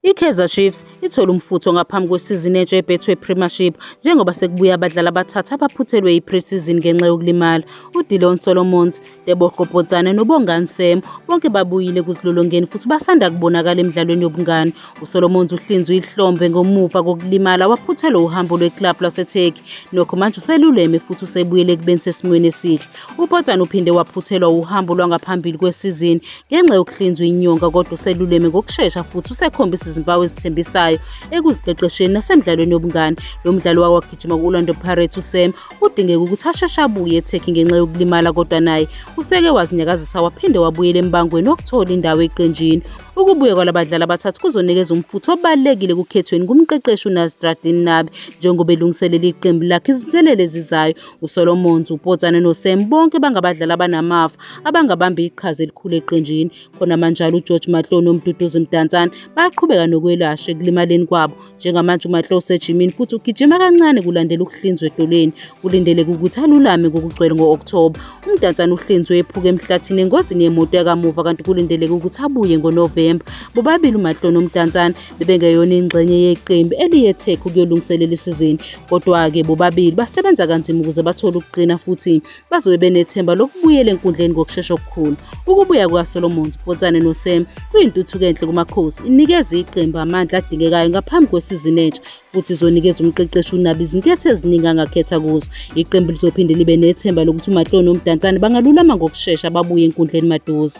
I-Kaizer Chiefs ithole umfutho ngaphambi kwesizini entsha yeBetway Premiership njengoba sekubuya abadlali abathathu abaphuthelwe i-pre-season ngenxa yokulimala. UDillon Solomons, Tebogo Potsane noBongani Sam bonke babuyile ekuzilolongeni futhi basanda kubonakala emidlalweni yobungani. USolomons uhlinzwe ihlombe ngomuva kokulimala waphuthelwa uhambo lweklabhu laseTurkey. Nokho manje useluleme futhi usebuyele ekubeni sesimweni esihle. UPotsane uphinde waphuthelwa uhambo lwangaphambili kwesizini ngenxa yokuhlinzwa inyonga kodwa useluleme ngokushesha futhi usekhombisa izimpawu ezithembisayo ekuziqeqesheni nasemdlalweni yobungane. Lo mdlali wake wagijima ku-Orlando Pirates uSam kudingeka ukuthi asheshe abuye eTurkey ngenxa yokulimala kodwa naye useke wazinyakazisa waphinde wabuyela embangweni wokuthola indawo eqenjini. Ukubuya kwalabadlali abathathu kuzonikeza umfutho obalulekile kukhethweni kumqeqeshi uNasreddine Nabi njengoba elungiselela iqembu lakhe izinselele ezizayo. uSolomons, uPotsane noSam bonke bangabadlali abanamafa abangabamba iqhaza elikhulu eqenjini. Khona manjalo uGeorge Matlow noMduduzi Mdantsane bayaqhubeka nokwelashwa ekulimaleni kwabo. Njengamanje uMatlow usejimini futhi ugijima kancane kulandela ukuhlinzwa edolweni. Kulindeleke ukuthi alulame ngokugcwele ngo-Okthoba. UMdantsane uhlinzwe ephuka emhlathini engozini yemoto yakamuva kanti kulindeleke ukuthi abuye ngoNovemba. Bobabili uMatlow noMdantsane bebengeyona ingxenye yeqembu eliye Tech ukuyolungiselela isizini kodwa-ke bobabili basebenza kanzima ukuze bathole ukuqina futhi bazobe benethemba lokubuyela enkundleni ngokushesha okukhulu ukubuya kukasolomons potsane nosem kuyintuthuko enhle kumakhosi inikeza iqembu amandla adingekayo ngaphambi kwesizini entsha futhi izonikeza umqeqeshi unabo izinketho eziningi angakhetha kuzo iqembu lizophinde libe nethemba lokuthi umahloni nomdansane bangalulama ngokushesha babuye enkundleni maduze